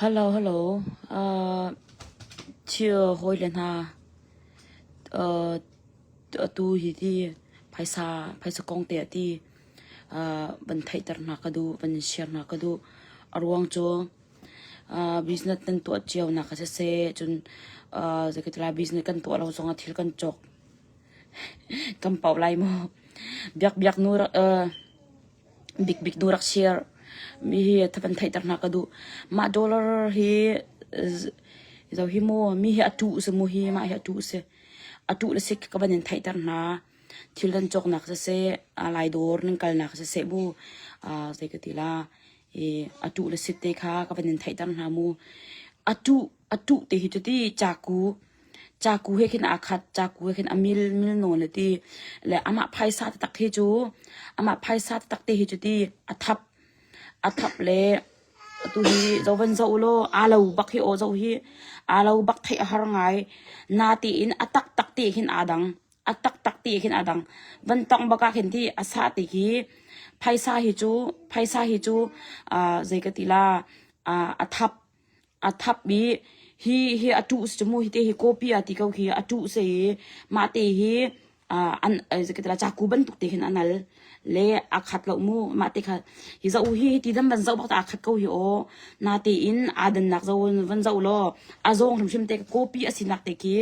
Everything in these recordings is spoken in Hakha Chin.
Hello hello aa thil hawile hna atu hi ti phaisa phaisa kong te ah ti van theihter hna ka duh van share hna ka duh. A ruang cu business nan tuah cio nak ah siseh cun zeikati lai business kan tuah lo zong ah thil kan cawk kan poh lai maw? Biakbiak nu rak. Bikbik tu rak share mihi van theihter hna ka duh. Mah dollar hi zoh hi mu mihi a tuh si mu hi mah hi a tuh si. A tuh le si ka van in theihter hna. Thil nan cawknak siseh, lai dawr nan kalnak siseh bu zei ka ti la, a tuh le si te kha ka van in theihter hna mu. A tuh A tuh ti hi cuti caku, caku he khin aa khat, caku he khin a mil, mil nawn a ti. Le amah phaisa taktak hi cu, amah phaisa taktak ti hi cuti a thap, a thap le atu hi zovan zoh ulaw aa lo bak hi aw zoh hi aa lo bak theih a har ngai. Na tiin a taktak ti khin aa dang, a taktak ti khin aa dang. Van tongh bak ah khin ti a sa ti khi phaisa hi cu, phaisa hi cu aa zei ka ti la, aa a thap. A thap i hi hi a ṭuh a si cu mu hi ti hi copy ah ti ko khi a ṭuh a si i mah te hi aa an zei ka ti lo caku bantuk te khin an al. Le aa khat lo mu mah te kha. Hi zoh hi hi ti dan van zoh bak tah aa khat ko hi aw. Natein aa dannak zoh van zoh law a zawng hrimhrim te copy a sinak te khi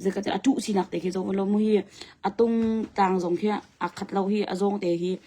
zei ka ti lo a ṭuh sinak te khi zoh law mu hi a tung tlang zong khi aa khat lo hi a zawng te hi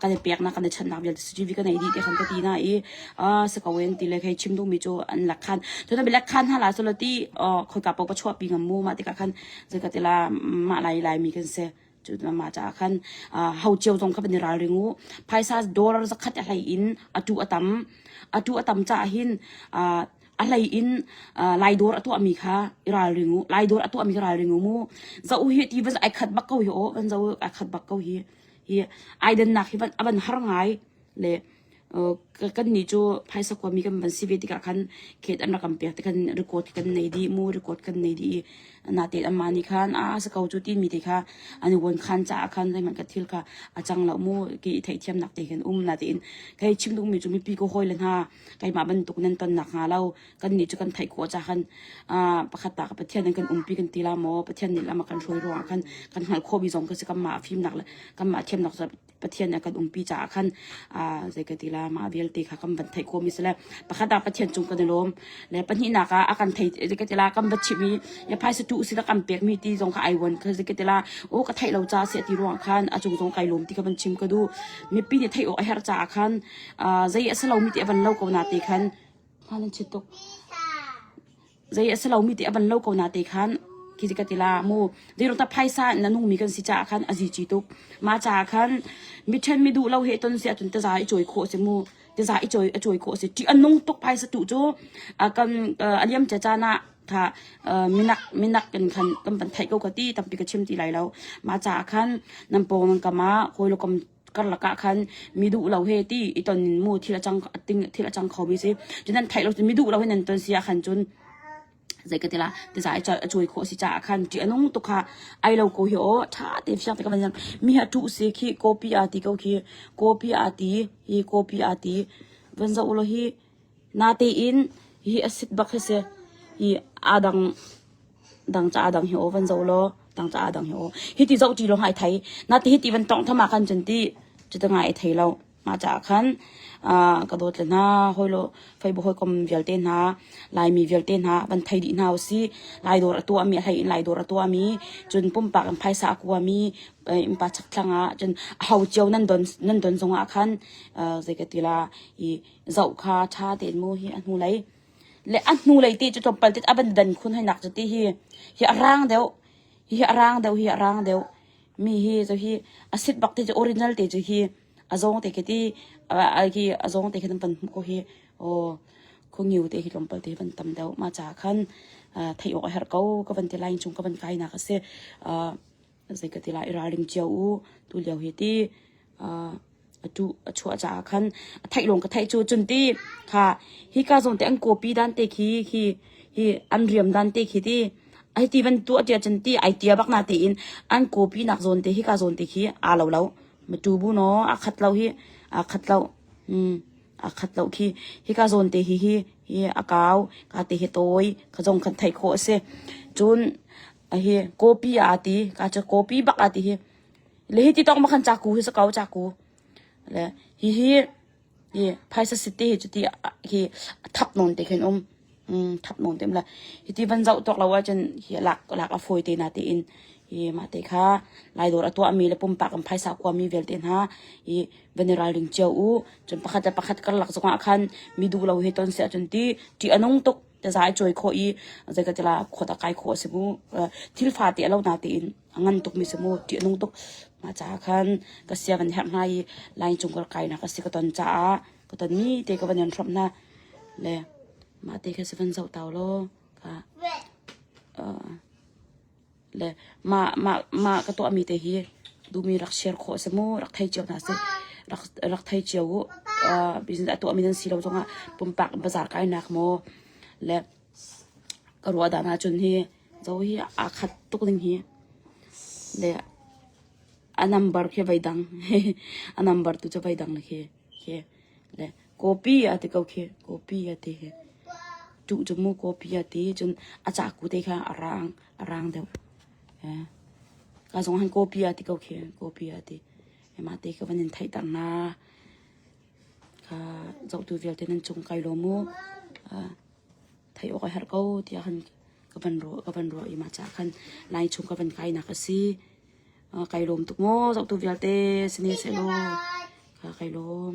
kan i peknak kan i chanhnak vialte CCTV kan ei dih ti khan ka ti na i si ko in ti le khei chim duhmi cu an lak khan cun abi lak khan hna la solo ti khoika pau ka chuahpi ngam mu ma tikah khan zeika tila mah lai lai mi kan se cu ma caah khan hau cio zong kha ban i ralring u phaisa dollar zakhat a hlei in atu atam atu atam caah hin a hlei in lai dor a tuahmi kha i ralring u lai dor a tuahmi kha ralring u mu za u hi ti van ai khat bak ko hi o van za u ai khat bak ko hi i ai dannak hi a van har ngai le kan ni cu phaisa kuami kan van si ve tikah khan khet an rakam pek te kan record kan nei di mu record kan nei di na te amma ni khan a sa ko chu ti mi te kha an won khan cha khan zeman ka thil kha a chang lo mu ki thei thiam nak te kan um na te in kai chim dung mi chu mi pi ko hoi le na kai ma ban tuk nan ton nak ha lo kannih cu kan theih ko ca khan pakhat ta ka pathian in kan umpi kan ti la maw pathian nih lama kan hruai ruangah khan kan hngalh khawhmi zong ka si kanmah fimnak le kanmah thiamnak pathian nih kan umpi caah khan zei ka ti la mah vialte kha kan van theih khawhmi si le pakhat ah pathian cung kan i lawm le pahnihnak ah a kan thei zei ka ti la kan va chimh i ya phaisa tu usila kan pekmi ti zong kha ai wan kha zei ka ti la o ka theih lo ca se ti ruang khan a cung zong kai lawm ti kha van chim ka du mipi nih theih awk a her caah khan zei a si lomi ti a van lo ko na te khan Zei a si lomi ti a van lo ko na te khan khi ka ti la mu. Zeiruk ta phaisa in na nungmi kan si caah khan a zici tuk. Mah caah khan mi ṭhen mi duh lo he ton si ahcun tiza i cawi khawh a si mu. Tiza i cawi a cawi khawh a si. Ṭih a nung tuk phaisa tu cu a kan a liam cia caan ah tha minak minak kan khan kan van theih ko ka ti tampi ka chim ti lai lo. Mah caah khan nan pawng nan kam ah hawilawkam karlak ah khan mi duh lo he ti i ton in mu thil a cang thil a cang kho mi si cun nan theih lo mi duh lo he nan ton si ah khan cun zei ka tila ti sa a chui kho si ca ah khan ti anung tu kha ai lo ko hi o tha te fiak te ka van mi ha tu si khi copy a ti ko khi copy a ti hi copy a ti van za ulo hi Natein hi a sit bak hi si i aa dang dang ca aa dang hi aw van zoh law dang ca aa dang hi aw. Hi ti zoh ṭi lawng ah ai thei. Nate hi ti van tonghtham ah khan cun ti cutin ah ai thei lo. Mah caah khan aa ka dawt le hna, hawilo feibaw hawikom vialte hna, Laimi vialte hna van thei dih hna usih. Lai dawr a tuahmi, a hleiin Lai dawr a tuahmi, cun pumpak in phaisa a kuami innpa chakthlang ah cun a ho cio nan don, nan don zong ah khan aa zei ka ti la i zoh kha ṭha tein mu hi a hnulei le a hnulei ti cu tlawmpal tit a van dan khun hainak cu ti hi hi a rang deuh hi hi a rang deuh hi a rang deuh mi hi cu hi a sit bak ti cu original te cu hi a zong te ke ti a hi a zong te khan pan hmu ko hi aw khungiu te hi tlawmpal te van tam deuh ma cha khan thei awk a herh ko ka van ti lai cung ka van kai nak a si zeikati lah i ralring cio u. Tulio hi ti uh, a tu a chuah caah khan a theih lawng ka theih cu cun ti kha hi ka zong te an copy dan te khi hi hi an riam dan te khi ti ai ti van tu atia chan ti ai tia bak na te in an copy nak zon te hi ka zon te khi a lo lo ma tu bu no a khat lo hi a khat lo mm a khat lo khi hi ka zon te hi hi hi a kau ka te hi toi ka zong kan thei kho ase cun Ahi copy aa ti. Kaa cu copy bak aa ti hi. Le hi ti tawk ma khan caku hi sa ko caku. Le hihi hi phaisa city hi cuti hi thap nawn te khin um. Mm, thap nawn te mla. Hi ti van zau tuak lo ahcun hi lak lak a fawi te na te in. Hi ma te kha lai dor atua mi le pumpak am phaisa kwa mi vialte hna hi van i ralring cio u. Cun pakhat le pakhat kar lak zongah khan mi du lo he ton se ahcun ti ti anung tuk. za i cawi khawh i zei ka ti la khawt a kai khawh a si mu thil fate a lo na tein a ngan tuk mi si mu ṭih nung tuk ma caah khan ka sia van herh hna i lai cung ka kai nak a si ka ton caah ka ton mi te ka van en hrom hna le ma te kha si van zoh tau law ka le mah ka tuahmi te hi duhmi rak share khawh a si maw? Rak thei cio hna sih. Rak thei cio uh. Business a tuahmi nan si lo zongah pumpak in bazaar kainak maw le ka ruah dah ahcun hi Zo hi aa khat tuk ning hi le a number khi vai dang. A number tu cu vai dang le khi. Le copy a ti ko khi. Copy a ti khi. Tuh cu mu copy a ti. Cun a caku te kha a raang. a rang deuh. Eh. Ka zong han copy a ti ko khi copy a ti. Ema te ka van in thei tar na. Ka zohtu vialte nan cung kai lo mu. Uh, thei awk a her ko tiah han ka van ro ka van ro i ma cha khan lai chung ka van kai nak asi uh, kai lom tuk mo zok tu vialte sini se lo ka kai lom